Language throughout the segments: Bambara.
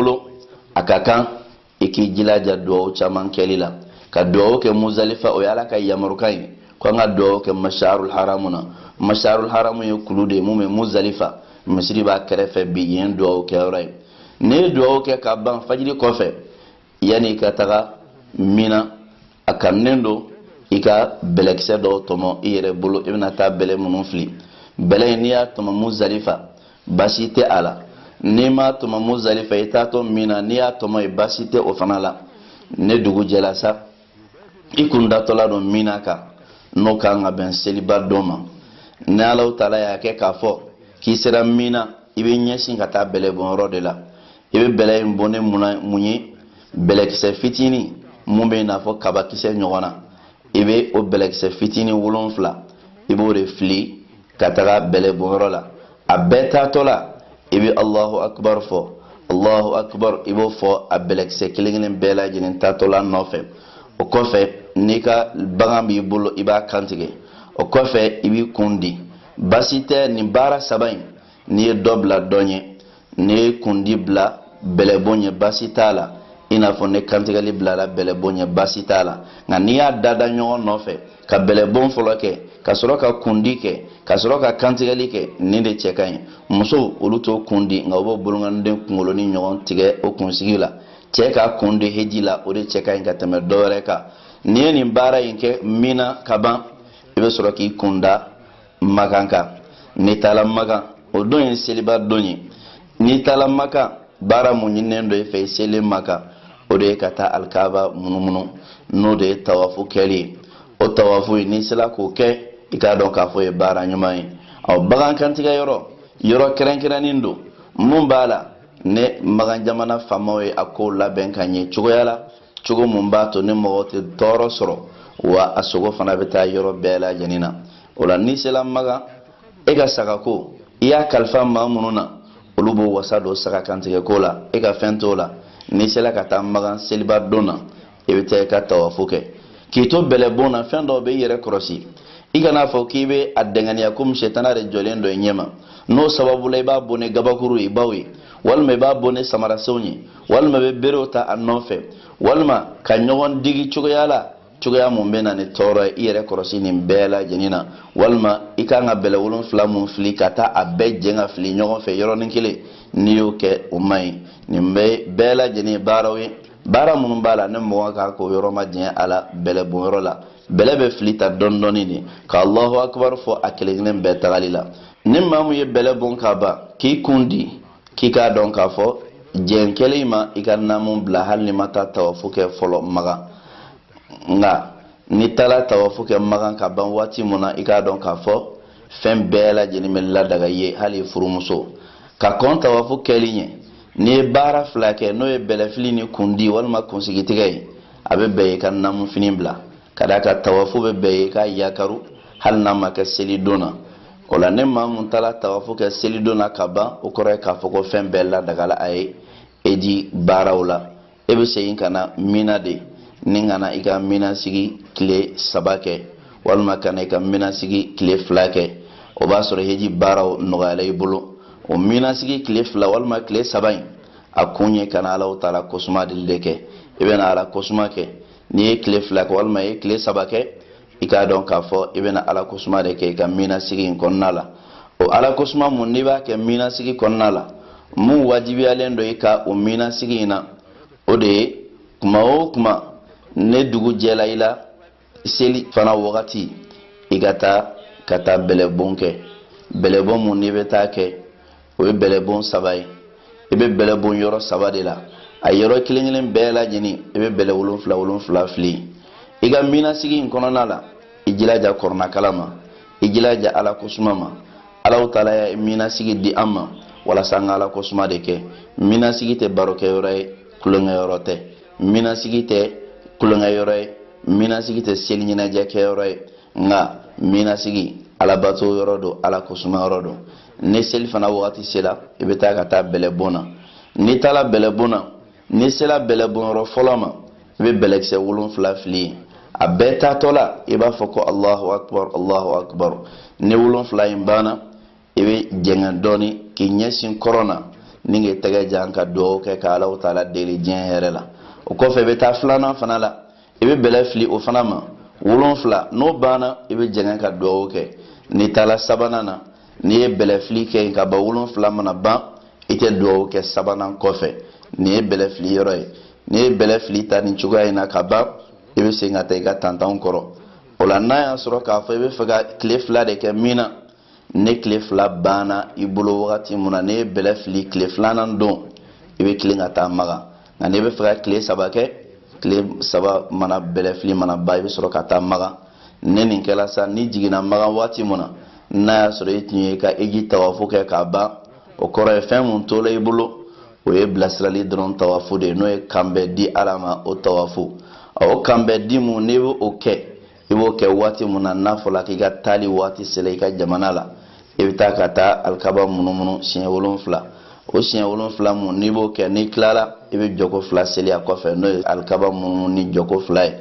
bolo a ka kan i k'i jilaja duwawu caman kɛli la ka duwawu kɛ muzalifa o ye ala ka yamarukan ye ko an ka duwawu kɛ masharul haramu na masharul haramu ye kulu de ye mun bɛ muzalifa misiri b'a kɛrɛfɛ bi yen duwawu kɛyɔrɔ ye n'i ye duwawu kɛ ka ban fajiri kɔfɛ yanni i ka taga mina a kanunen don i ka bɛlɛkisɛ dɔw tɔmɔ i yɛrɛ bolo i bɛna taa bɛlɛ minnu fili bɛlɛ in n'i y'a tɔmɔ muzalifa baasi tɛ a la n'i m'a tɔmɔ muzalifa i taatɔ mina n'i y'a tɔmɔ yen baasi tɛ o fana la ni dugu jɛla sa i kun datɔla don mina kan n'o ka kan ka bɛn seliba don ma ni alahu taala y'a kɛ k'a fɔ k'i sera mina i bɛ ɲɛsin ka taa bɛlɛbonyɔrɔ de la i bɛ bɛlɛ in bon ni mun ye bɛlɛkisɛ fitinin mun bɛ i n'a fɔ kabakisɛ ɲɔgɔn na i bɛ o bɛlɛkisɛ fitinin wolonfila i b'o de fili ka taga bɛlɛbonyɔrɔ la a bɛɛ taatɔ la i bɛ alahu akibaru fɔ alahu akibaru i b'o fɔ a bɛlɛkisɛ kelen kelen bɛɛ lajɛlen taatɔ la nɔfɛ o kɔfɛ n'i ka bagan b'i bolo i b'a kantigɛ o kɔfɛ i b'i kun di baasi tɛ nin baara saba in n'i ye dɔ bila dɔ ɲɛ n'i ye kundi bila bɛlɛbon ɲɛ baasi t'a la i n'a fɔ ni kantigɛli bilara bɛlɛbon ɲɛ baasi t'a la nka n'i y'a dada ɲɔgɔn nɔfɛ ka bɛlɛbon fɔlɔ kɛ ka sɔrɔ ka kundi kɛ ka sɔrɔ ka kantigɛli kɛ nin de cɛ ka ɲi musow olu t'o kun di nka u b'o bolonkɔniden kunkolonin ɲɔgɔn tigɛ o kunsigi la cɛ k'a kun di heji la o de cɛ ka ɲi ka tɛmɛ dɔ wɛrɛ kan n'i ye nin baara in kɛ mina ka ban i bɛ sɔrɔ k'i kun da makan kan n'i taara makan o don ye seliba don ye n'i taara makan baara mun ɲininen don e fɛ i selen makan o de ye ka taa alikaba munumunu n'o de ye tawafu kɛli ye o tawafu ye n'i sera k'o kɛ i k'a dɔn k'a fɔ o ye baara ɲuman ye ɔ bagan kantigɛ yɔrɔ yɔrɔ kɛrɛnkɛrɛnnen don mun b'a la ni makan jamana faamaw ye a kow labɛn ka ɲɛ cogoya la cogo mun b'a to ni mɔgɔ tɛ tɔɔrɔ sɔrɔ wa a sogo fana bɛ taa yɔrɔ bɛɛ lajɛlen na o la n'i sela makan e ka sagako i y'a kalifa maa minnu na olu b'o wasa don saga kantigɛko la e ka fɛn t'o la n'i sela ka taa makan seliba don na i bɛ taa i ka tawafu kɛ k'i to bɛlɛbon na fɛn dɔw bɛ i yɛrɛ kɔlɔsi i kana fɔ k'i bɛ a dɛngɛniya komi sɛtana de jɔlen don i ɲɛma n'o sababu la i b'a bon ni gabakurubaw ye walima i b'a bon ni samarasenw ye walima bɛ berew ta a nɔfɛ walima ka ɲɔgɔn digi cogoya la cogoya mun bɛ na ni tɔɔrɔ ye i yɛrɛ kɔlɔsi nin bɛɛ lajɛlen na walima i kan ka bɛlɛ wolonfila mun fili ka taa a bɛɛ jɛn ka fili ɲɔgɔn fɛ yɔrɔnin kelen n'i y'o kɛ o man ɲi nin bɛɛ bɛɛ lajɛlen ye baaraw ye baara minnu b'a la ni mɔgɔ kan k'o yɔrɔ majanya a la bɛlɛ bon yɔrɔ la bɛlɛ bɛ fili ta dɔɔni dɔɔni de ka alahu akibaru fɔ a kelen kelen bɛɛ tagali la ni maa mun ye bɛlɛ bon ka ban k'i kun di k'i k'a dɔn k'a fɔ jɛn kɛla i ma i ka naamu bila hali n'i ma taa tawafu kɛ fɔlɔ maga nka n'i taala tawafu kɛ maga ka ban waati mun na i k'a dɔn k'a fɔ fɛn bɛɛ lajɛlen bɛ ladaga i ye hali furumuso ka kɔn tawafu kɛli ɲɛ n'i ye baara fila kɛ n'o ye bɛlɛfili ni kundi walima kunsigitigɛ ye a bɛ bɛn i ka naamu fini bila ka d'a kan tawafu bɛ bɛn i k'a yakaru hali n'a ma kɛ seli don na o la ni maa mun taala tawafu kɛ seli don na ka ban o kɔrɔ ye k'a fɔ ko fɛn bɛɛ ladagala a ye heji baaraw la e bɛ segin ka na mina de ni ka na i ka mina sigi tile saba kɛ walima ka na i ka mina sigi tile fila kɛ o b'a sɔrɔ heji baaraw nɔgɔyala i bolo o mina sigi tile fila walima tile saba in a kun ye ka na alahu taala kosuma dili de kɛ i bɛ na ala kosuma kɛ n'i ye tile fila kɛ walima i ye tile saba kɛ i k'a dɔn k'a fɔ i bɛna ala kosuma de kɛ i ka mina sigi in kɔnɔna la o ala kosuma mun n'i b'a kɛ mina sigi kɔnɔna la mun wajibiyalen don i kan o mina sigi in na o de ye kuma o kuma ni dugu jɛla i la selifana wagati i ka taa ka taa bɛlɛbon kɛ bɛlɛbon mun n'i bɛ taa kɛ o ye bɛlɛbon saba ye i bɛ bɛlɛ bon yɔrɔ saba de la a yɔrɔ kelen kelen bɛɛ lajɛlen i bɛ bɛlɛ wolonfila wolonfila fili i ka mina sigi in kɔnɔna la i jilaja kurana kalan ma i jilaja ala kosuma ma alahu taala ye mina sigi di an ma walasa an ka ala kosuma de kɛ mina sigi tɛ barokɛyɔrɔ ye tulonkɛyɔrɔ tɛ mina sigi tɛ tulonkɛyɔrɔ ye mina sigi tɛ seli ɲɛnajɛ kɛyɔrɔ ye nka mina sigi alabato yɔrɔ don ala kosuma yɔrɔ don ni selifana wagati sela i bɛ taa ka taa bɛlɛbon na n'i taala bɛlɛbon na n'i sela bɛlɛbon yɔrɔ fɔlɔ ma i bɛ bɛlɛkisɛ wolonfila fili yen a bɛɛ taatɔ la i b'a fɔ ko alahu akubar alahu akubar ni wolonfila in banna i bɛ jɛngɛ dɔɔni k'i ɲɛsin kɔrɔn na ni k'i tɛgɛ jan ka dugawu kɛ ka alahu taala deli diɲɛ hɛrɛ la o kɔfɛ i bɛ taa filanan fana la i bɛ bɛlɛ fili o fana ma wolonfila n'o banna i bɛ jɛngɛ ka dugawu kɛ n'i taala sabanan na n'i ye bɛlɛ fili kɛ yen ka ban wolonfila mana ban i tɛ dugawu kɛ sabanan kɔfɛ nin ye bɛlɛ fili yɔrɔ ye n'i ye bɛlɛ fili tan nin cogoya in na ka ban i bɛ segin ka taa i ka tantanw kɔrɔ o la n'a y'a sɔrɔ k'a fɔ i bɛ fɛ ka tile fila de kɛ mina ni tile fila banna i bolo wagati mun na n'i ye bɛlɛ fili tile filanan don i bɛ tilen ka taa maga nka n'i bɛ fɛ ka tile saba kɛ tile saba mana bɛlɛ fili mana ban i bɛ sɔrɔ ka taa maga ni nin kɛla sa n'i jiginna maga waati mun na n'a y'a sɔrɔ i tun ye i ka heji tawafu kɛ k'a ban o kɔrɔ ye fɛn mun tola i bolo o ye bilasirali dɔrɔn tawafu de ye n'o ye kanbɛn di ala ma o tawafu o kanbɛn di mun n'i bɛ o kɛ i b'o kɛ waati mun na n'a fɔla k'i ka taali waati sela i ka jamana la i bɛ taa ka taa alikaba munumunu siɲɛ wolonfila o siɲɛ wolonfila mun n'i b'o kɛ n'i tilala i bɛ jɔko fila seli a kɔfɛ n'o ye alikaba munumunu ni jɔko fila ye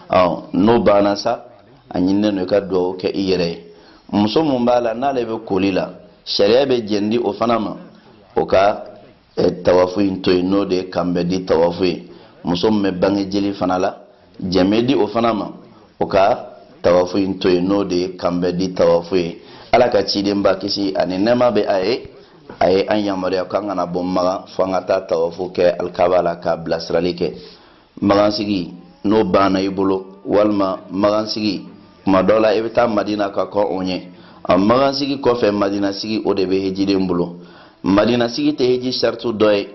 ɔ n'o banna sa a ɲininen don i ka dugawu kɛ i yɛrɛ ye muso mun b'a la n'ale bɛ koli la sariya bɛ jɛn di o fana ma o ka e, tawafu in to yen n'o de ye kanbɛ di tawafu ye muso min bɛ bange jeli fana la jɛn bɛ di o fana ma o ka tawafu in to yen n'o de ye kanbɛ di tawafu ye ala ka cidenba kisi ani nɛɛma bɛ a ye a ye an yamaruya k'an kana bɔ magan fo an ka taa tawafu kɛ alikaba la ka bilasirali kɛ magansigi n'o banna i bolo walima magansigi kuma dɔ la i bɛ taa madina ka kɔn o ɲɛ a magansigi kɔfɛ madinasigi o de bɛ hejiden bolo madinasigi tɛ heji saritu dɔ ye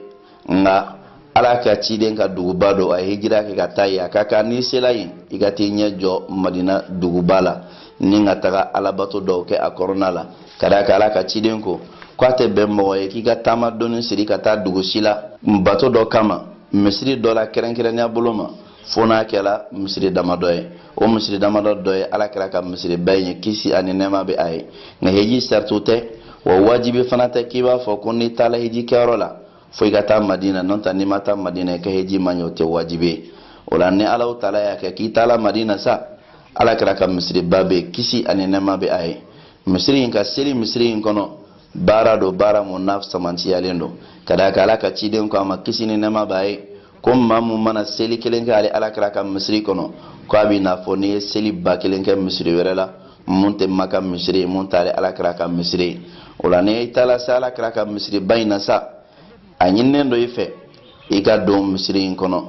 nka ala ka ciden ka duguba don a ye hejira kɛ ka taa yen a ka kan n'i sela yen i ka t'i ɲɛ jɔ madina duguba la ni ka taga alabato dɔw kɛ a kɔnɔna la ka d'a kan ala ka ciden ko k'a tɛ bɛn mɔgɔ ye k'i ka taama doni siri ka taa dugu si la bato dɔ kama misiri dɔ la kɛrɛnkɛrɛnnenya bolo ma fo n'a kɛra misiri damadɔ ye o misiri damadɔ dɔ ye ala kɛra ka misiriba in ye kisi ani nɛɛma bɛ a ye nka heji saritu tɛ wa wajibi fana tɛ k'i b'a fɔ ko n'i taara heji kɛyɔrɔ la fo i ka taa madina n'o tɛ n'i ma taa madina i ka heji man ɲi o tɛ wajibi ye o la ni ala taala y'a kɛ k'i taara madina sa ala kɛra ka misiriba bɛ yen kisi ani nɛɛma bɛ a ye misiri in ka seli misiri in kɔnɔ baara don baara mun n'a sɛmɛntiyalen don ka d'a kan ala ka ciden ko a ma kisi ni nɛɛma b'a ye ko maa mun mana seli kelen kɛ ale alakira ka misiri kɔnɔ ko a bɛ n'a fɔ n'i ye seli ba kelen kɛ misiri wɛrɛ la mun tɛ maka misiri ye mun t'ale alakira ka misiri ye o la n'i taara se alakira ka misiriba in na sa a ɲininen don i fɛ i ka don misiri in kɔnɔ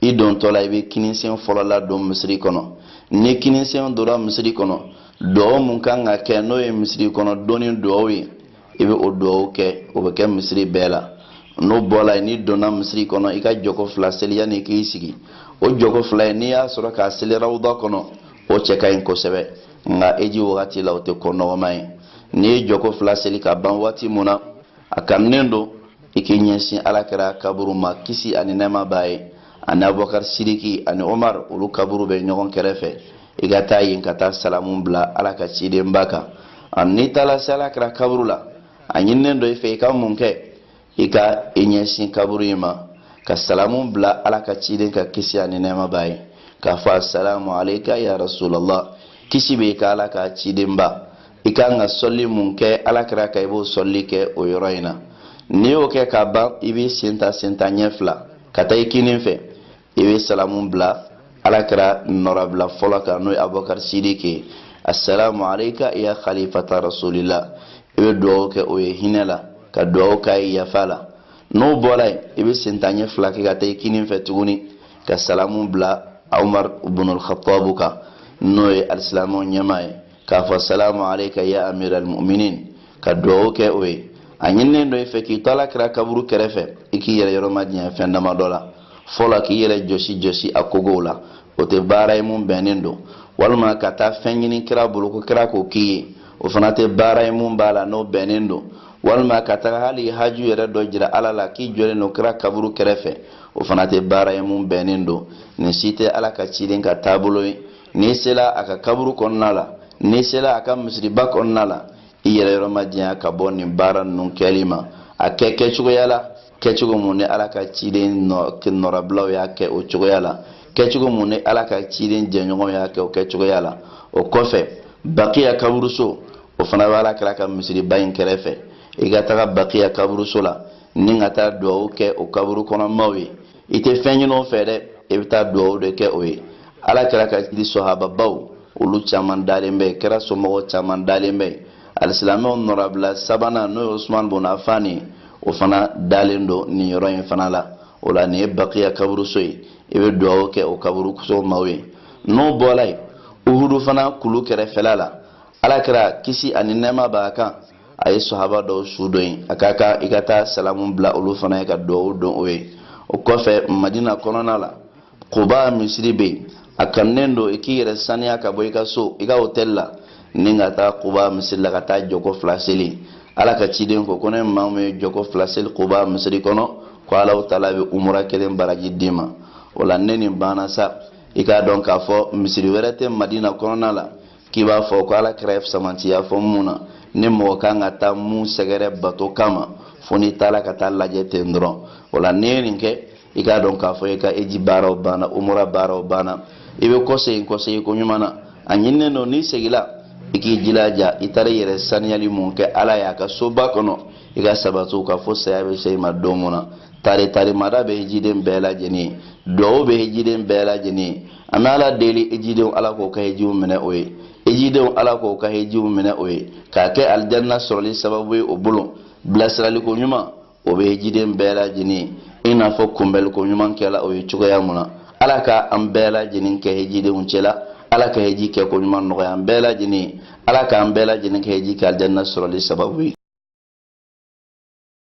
i dontɔ la i bɛ kininsen fɔlɔ ladon misiri kɔnɔ ni kininsen donna misiri kɔnɔ duwawu mun kan ka kɛ n'o ye misiri kɔnɔ donni duwawu ye i bɛ o duwawu kɛ o bɛ kɛ misiri bɛɛ la n'o bɔla yen n'i donna misiri kɔnɔ i ka jɔko fila seli yanni k'i sigi o jɔko fila ye n'i y'a sɔrɔ k'a seli rawuda kɔnɔ o cɛ ka ɲi kosɛbɛ nka heji wagati la o tɛ ko nɔgɔman ye n'i ye jɔko fila seli ka ban waati mun na a kanunen don i k'i ɲɛsin alakira kaburu ma kisi ani nɛɛma b'a ye ani abubakari siriki ani omar olu kaburu bɛ ɲɔgɔn kɛrɛfɛ i ka taa yen ka taa salamu bila ala ka cidenba kan n'i taara se ala kɛra kaburu la a ɲininen don i fɛ i ka mun kɛ i ka i ɲɛsin kaburu in ma ka salamu bila ala ka ciden kan kisi ani nɛɛma b'a ye k'a fɔ asalamu aleyika ya rasulallah kisi bɛ i kan ala ka cidenba i ka kan ka sɔli mun kɛ ala kɛra kan i b'o sɔli kɛ o yɔrɔ in na n'i y'o kɛ ka ban i b'i sen ta sen ta ɲɛ fila ka taa i kinin fɛ i bɛ salamu bila ala kira nɔrabila fɔlɔ kan n'o ye abubakar sidiki assalamu alayka ya khalifata rasulila i bɛ dugawu kɛ o ye hinɛ la ka dugawu k'a ye yafa la n'o bɔra yen i bɛ sen ta ɲɛ fila kɛ ka taa i kinin fɛ tuguni ka salamu bila umar bunul khatabu kan n'o ye alisilamɛw ɲɛmaa ye k'a fɔ salamu aleyka ya amiral muminin ka duwawu kɛ o ye a ɲininen don i fɛ k'i to ala kira kaburu kɛrɛfɛ i k'i yɛrɛ yɔrɔ majanya fɛn dama dɔ la fɔlɔ k'i yɛrɛ jɔsi jɔsi a kogow la o tɛ baara ye mun bɛnnen don walima ka taa fɛn ɲini kira bolo ko kira k'o k'i ye o fana tɛ baara ye mun b'a la n'o bɛnnen don walima ka taga hali haju yɛrɛ dɔ jira ala la k'i jɔlen don kira kaburu kɛrɛfɛ o fana tɛ baara ye mun bɛnnen don nin si tɛ ala ka ciden ka taabolo ye n'i sela a ka kaburu kɔnɔna la n'i sela a ka misiriba kɔnɔna la i yɛrɛ yɔrɔ majanya ka bɔ nin baara ninnu kɛli ma a kɛ kɛcogoya la kɛcogo mun ni ala ka ciden nɔrabilaw y'a kɛ o cogoya la kɛcogo mun ni ala ka ciden jɛɲɔgɔnw y'a kɛ o kɛcogoya la o kɔfɛ bakiya kaburuso o fana bɛ ala kira ka misiriba in kɛrɛfɛ i ka taga bakiya kaburuso la ni ka taa dugawu kɛ o kaburu kɔnɔ maaw ye i tɛ fɛn ɲini o fɛ dɛ i bɛ taa dugawu de kɛ o ye ala kira ka sahababaw olu caman dalen bɛ kira somɔgɔ caman dalen bɛ alisilamɛw nɔrabila sabanan n'o ye usman bun afan ye o fana dalen don nin yɔrɔ in fana la o la nin ye bakiya kaburuso ye i bɛ dugawu kɛ o kaburuso maaw ye n'o bɔra yen uhudu fana kulu kɛrɛfɛla la ala kira kisi ani nɛɛma b'a kan a ye sahaba dɔw su don yen a ka kan i ka taa salamu bila olu fana ye ka duwawu don o ye o kɔfɛ madina kɔnɔna la kuba misiri bɛ yen a kanunen don i k'i yɛrɛ saniya ka bɔ i ka so i ka hotɛli la ni ka taa kuba misiri la ka taa jɔko fila seli ala ka ciden ko ko ni maa min ye jɔko fila seli kuba misiri kɔnɔ ko alahu taala bɛ umura kelen baraji d'i ma o la ni nin banna sa i k'a dɔn k'a fɔ misiri wɛrɛ tɛ madina kɔnɔna la k'i b'a fɔ ko ala kira ye sɛmɛntiya fɔ mun na ni mɔgɔ ka kan ka taa mun sɛgɛrɛ bato kama fo n'i taara ka taa lajɛ ten dɔrɔn o la n'i ye nin kɛ i k'a dɔn k'a fɔ i ka heji baaraw banna umura baaraw banna i bɛ kɔsegin kɔsegin ko ɲuman na a ɲininen don n'i segila i k'i jilaja i taara i yɛrɛ saniyali mun kɛ ala y'a ka soba kɔnɔ i ka sabati o kan fo saya bɛ se i ma don mun na tari tarimada bɛ hejiden bɛɛ lajɛlen ye duwawu bɛ hejiden bɛɛ lajɛlen an bɛ ala deli hejidenw ala k'o ka hejiw minɛ o ye hejidenw ala k'o ka hejiw minɛ o ye k'a kɛ alijanna sɔrɔli sababu ye o bolo bilasiraliko ɲuman o bɛ hejiden bɛɛ lajɛlen ye i n'a fɔ kunbɛliko ɲuman kɛla o ye cogoya mun na ala ka an bɛɛ lajɛlen kɛ hejidenw cɛla ala ka heji kɛ ko ɲuman nɔgɔya an bɛɛ lajɛlen ye ala k'an bɛɛ lajɛlen ka heji kɛ alijanna sɔrɔli sababu ye